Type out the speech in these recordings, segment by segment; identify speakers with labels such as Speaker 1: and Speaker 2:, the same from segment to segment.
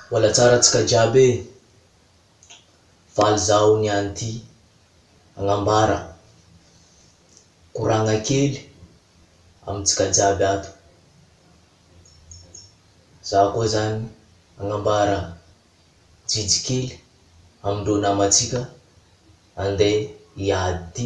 Speaker 1: Mbola tsara antsika jiaby e! Valy zaho niany ty agnambara koragna kely amintsika jiaby ato. Zaho koa zany agnambara jijy kely amindreo namantsika andeha hiady ty.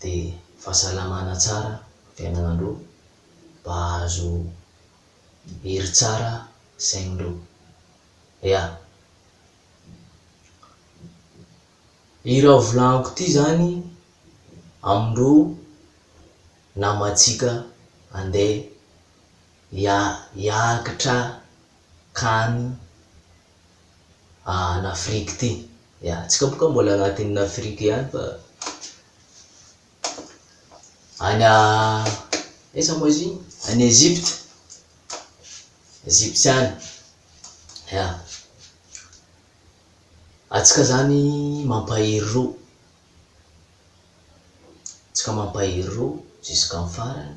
Speaker 1: dia fahasalamana tsara, fiainana aloha, mba hahazo hery tsara saigny lo. Ya. I raha volagniko ity zany amin'ireo namantsika andeha hiakatra kany. an' Afrique ity. Ya, antsika boka mbola agnatin'ny Afrique ihany fa any aiza moa izy iny? Any Egypte, Egypte any, ya. Antsika zany mampahery ro, antsika mampahery ro jusqu'en farany.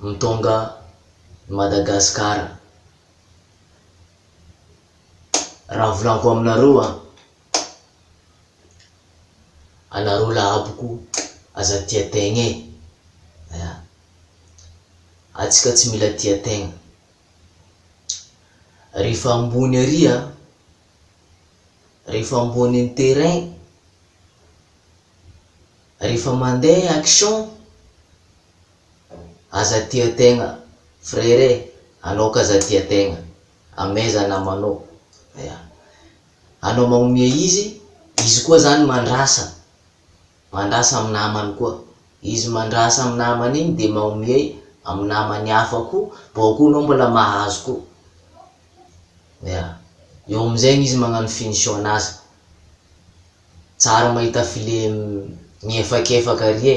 Speaker 1: Mtonga ny Madagascar. Raha volanko aminareo an, anareo la aboko aza tia tegna e, ya, atsika tsy mila tia tegna, rehefa ambony ary an, rehefa ambony ny terrain, rehefa mandeha action, Aza tia tegna frere e, anao ka aza tia tegna, amaiza namanao, ya. Anao magnomea izy, izy koa zany mandrasa, mandrasa amin'ny namany koa. Izy mandrasa amin'ny namany igny de magnomey amin'ny namany hafa koa, bôka eo anao mbola mahazo koa. Ya. Eo am'zegny izy magnano finition-n'asa. Tsara mahita file miefakefaka ary e.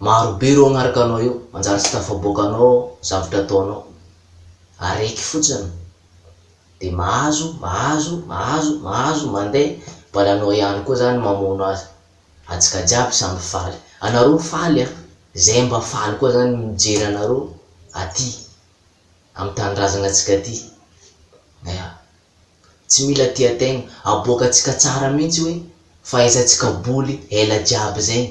Speaker 1: Maro be ireo agnaraka anao eo, manjary tsy tafaboaka anao zavtra ataonao. Areky fotsiny de mahazo, mahazo, mahazo, mahazo, mande, mbola anao ihany koa zany mamono azy. Atsika jiaby samy faly. Anareo faly an! Zay mba faly koa zany mijery anareo aty am tanindrazagna tsika ty. Ea. Tsy mila tia tegna, aboakatsika tsara mintsy hoe fahaizantsika boly ela jiaby zegny.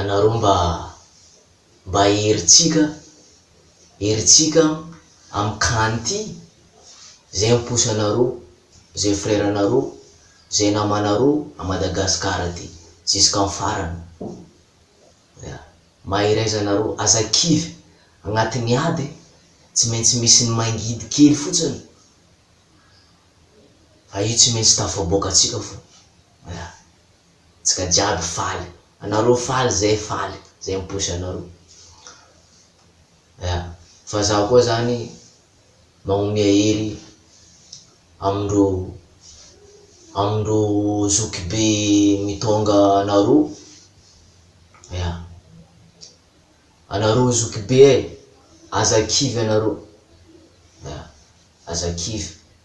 Speaker 1: anareo mba mba herintsika herintsika am can ty zay mposa anareo zay frère anareo zay namanareo a Madagascar ty jusqu'en farany ya mahery aiza anareo aza kivy agnatiny aby tsy maintsy misy ny mangidy kely fotsiny fa io tsy maintsy tafaboaka atsika fo ya. Tsika jiaby faly. Anareo faly zay faly zay miposy anareo. Ya. Fa zaho koa zany magnomea hery amindreo amindreo zokibe mitônga anareo. Ya. Anareo zokibe e, aza kivy anareo. Ya. Aza kivy.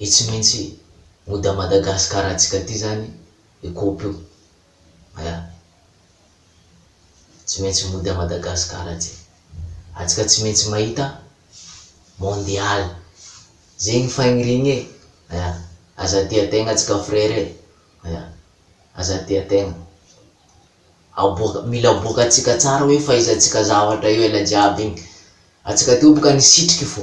Speaker 1: Io tsy maintsy mody à Madagascar antsika ty zany io coop io ya. Tsy maintsy mody à Madagascar aty. Atsika tsy maintsy mahita mondial. Zegny fagniriagna e. Ya. Aza tia tegna atsika frere e. Ya. Aza tia tegna. Aboaka, mila aboaka atsika tsara hoe fahaizantsika zavatra io ela jiaby igny. Atsika teo boka nisitriky fô.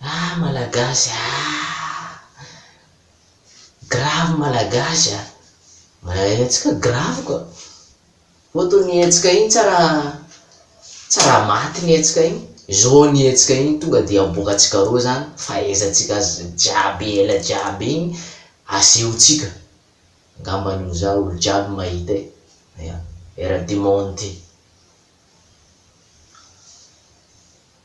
Speaker 1: Ah malagasy ah! Grave malagasy ah! Mahay hetsika grave quoi! Foto ny hetsika iny tsy raha tsy raha maty ny hetsika iny, zao ny hetsika iny tonga dia aboakantsika roa zany fahaizantsika azy jiaby ela jiaby iny asehontsika, angamba ny ho za olo jiaby mahita e! Aia! Era du monde ty.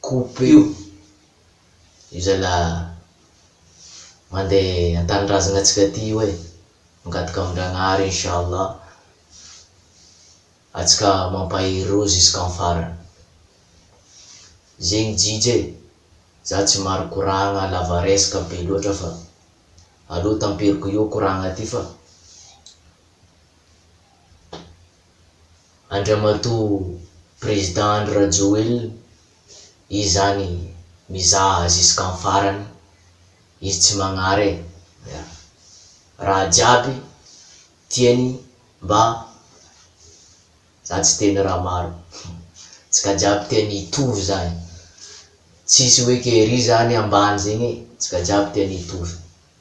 Speaker 1: Coupe-io, io zalahy mandeha an-tanindrazagna antsika aty io e, mangataka amin-dragnahary inchallah antsika mampahery roa jusqu'en farany. Zegny JJ e, za tsy maro koragna lava resaka be loatra fa aleo tamperiko eo koragna ty fa. Andriamatoa Président Andry Rajoelina izy zany mizaha jusqu'en farany izy tsy magnare raha jiaby tiany mba za tsy teny raha maro tsika jiaby tiany hitovy zany tsisy hoe ke ry zany ambany zegny e tsika jiaby tiany hitovy.